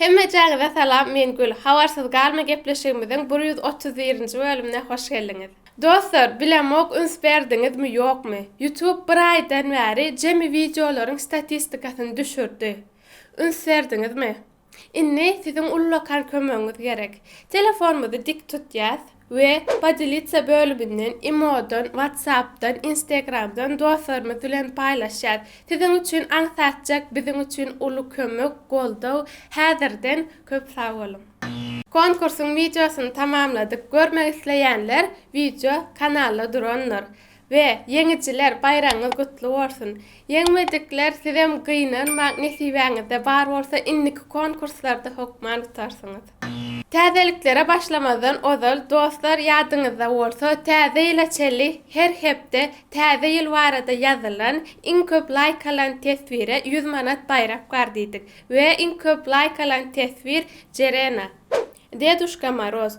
Hemmejäňize salam men Gül habarsyz galma gepleşigimiziň bir ýüz otuz birinji bölümine hoş geldiňiz. Dostlar bilemok üns berdiňizmi ýokmy YouTube bir aýdan bäri jemi wideolaryň statistikasyny düşürdi üns berdiňizmi indi siziň ullakan kömegiňiz gerek telefonymyzy dik tutýas we Podelitsa bölüminden Imodan, WhatsAppdan, Instagramdan dostlarymyz bilen paýlaşýas. Siziň üçin aňsatjak biziň üçin uly kömek, goldaw. Häzirden köp sag boluň! Konkursyň wideosyny tamamladyk, görmek isleýänler wideo kanalda durandyr. We ýeňijiler baýragyňyz gutly bolsun. Ýeňmejikler sizem gynanmaň nesibäňizde bar bolsa indiki konkurslarda hokman utarsyňyz. Täzeliklere başlamazdan ozal dostlar ýadyňyzda bolsa täze ýyla çenli her hepde täze ýyl barada ýazylan iň köp laýk alan teswire ýüz manat baýrak bar diýdik we iň köp laýk alan teswir Jerena, Deduşka Moroz,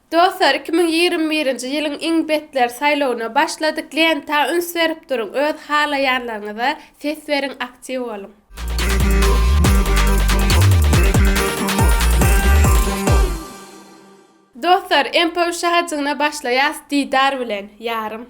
Dostlar iki müň ýigrimi birinji ýylyň iň betler saýlawyna başladyk lenta üns berip duruň öz halaýanlaryňyza ses beriň aktiw boluň. Dostlar MPWŞ hajygyna başlaýas Didar bilen ýarym.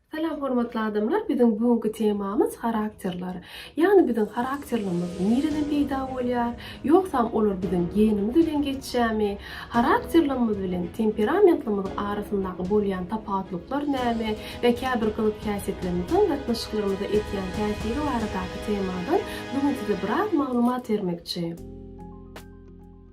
Salam hormatly adamlar biziň bu günki temamyz harakterler. Ýagny biziň harakterlerimiz nireden peýda bolýar? Ýogsam olar biziň genimiz bilen geçýärmi? Harakterlerimiz bilen temperamentlerimiz arasyndaky bolýan tapawutlyklar näme we käbir gyzyk häsiýetlerimiziň gatnaşyklarymyza etýän täsiri baradaky temadan bu gün size biraz maglumat bermekçi.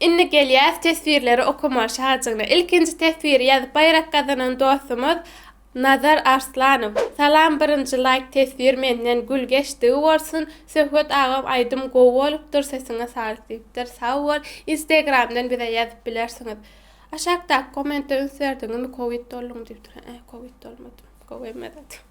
Indi gelýäs teswirleri okamaga şajygyna. Ilkinji teswiri ýazyp baýrak gazanan dostumyz Nazar Arslanow. Salam birinji laýk teswir menden gül geçdigi bolsun Söhbet agam aýdym gowy bolupdyr sesiňe saglyk diýipdir sag bol Instagramdan bize ýazyp bilersiňiz Aşakdaky kommente üns berdiňizmi covid dolduň diýipdir ä covid dolmadym gowy emma zat.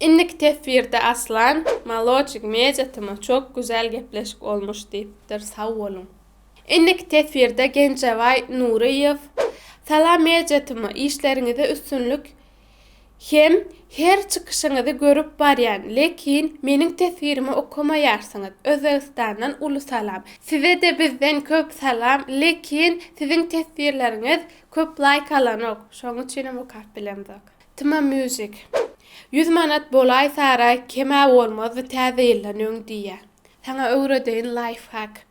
Indiki teswirde Aslan maloçik media tma çok güzel gepleşik olmuş diýipdir sag boluň. Indiki teswirde Genjebaý Nuryýew Salam media tma işleriňizde üstünlik hem her çykyşyňyzy görüp barýan lekin meniň teswirimi okamaýarsyňyz Özbegistandan uly salam sizede bizden köp salam lekin siziň teswirleriňiz köp laýk alanok şoň üçinem okap bilemzok Tma music. Ýüz manat bolaý saraý kemä bolmazdy täze ýyldan öň diýýä. Saňa öwredeýin laýfhak.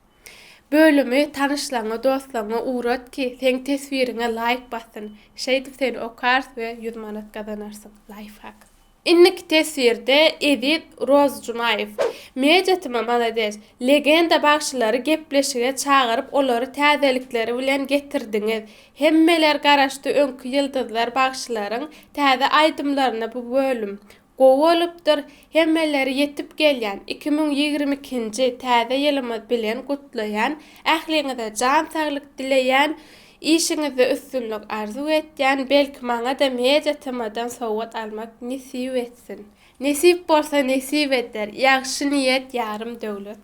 Bölümi tanyşlaryňa dostlaryňa ugrat ki seň teswiriňe laýk bassyn. Şeýdip seni okars we ýüz manat gazanarsyň. Laýfhak. Inniki teswirde Eziz Rozjumaýew. Media tma malades. Legenda bagşylary gepleşige çagyryp olary täzelikleri bilen getirdiňiz. Hemmeler garaşdy öňki ýyldyzlar bagşylaryň täze aýdymlaryna bu bölüm gowy bolupdyr hemmeleri ýetip gelýän iki müň ýigrimi ikinji täze ýylymyz bilen gutlaýan ähliňize jan saglyk dileýän işiňizde üstünlik arzuw etýän belki maňada media tmadan sowgat almak nesip etsin nesip bolsa nesip eder ýagşy niýet ýarym döwlet.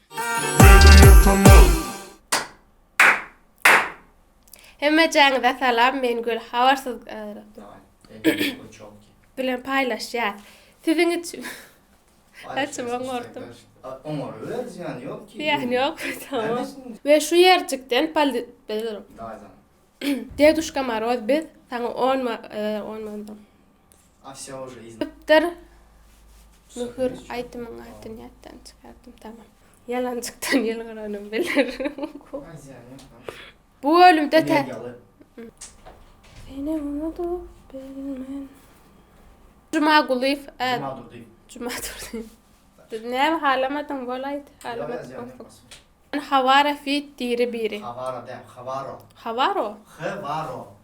Hemmejaňyza salam men gül habarsyz bilen paýlaşýas siziň üçin Saçym oňardyp. Oňaryber, zyýany ýok ki. Zyýany ýok, tamam. We şu ýerjikden paldi Daýzam. Deduşka Moroz biz saňa 10 10 manat. Çypdyr Möhür aýdymyň adyny ýatdan çykardym tamam. Ýalanjykdan ýylgyranym biler. Bu bölümde tä Seni unudyp bilmen. Jumagulyýew ä Jumadurdyýew. Näme halamadyň bol aýt halamadyk bolsaň. Hawara feat diri biri. Hawara däl Hawaro. Hawaro? Hwaro.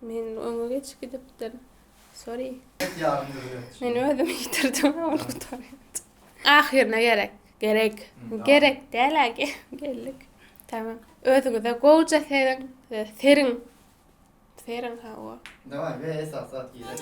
Men öňe geçip gidipdir. Sorry. Ýet ýarym ýüzüne. Men özümi ýitirdim ol gutaryňda. Ahyryna gerek. Gerek. Gerek däl-ä geldik. Tamam. Özüňize gowja seriň. Seriň. Seriň hawa. Daway we esas zat gerek.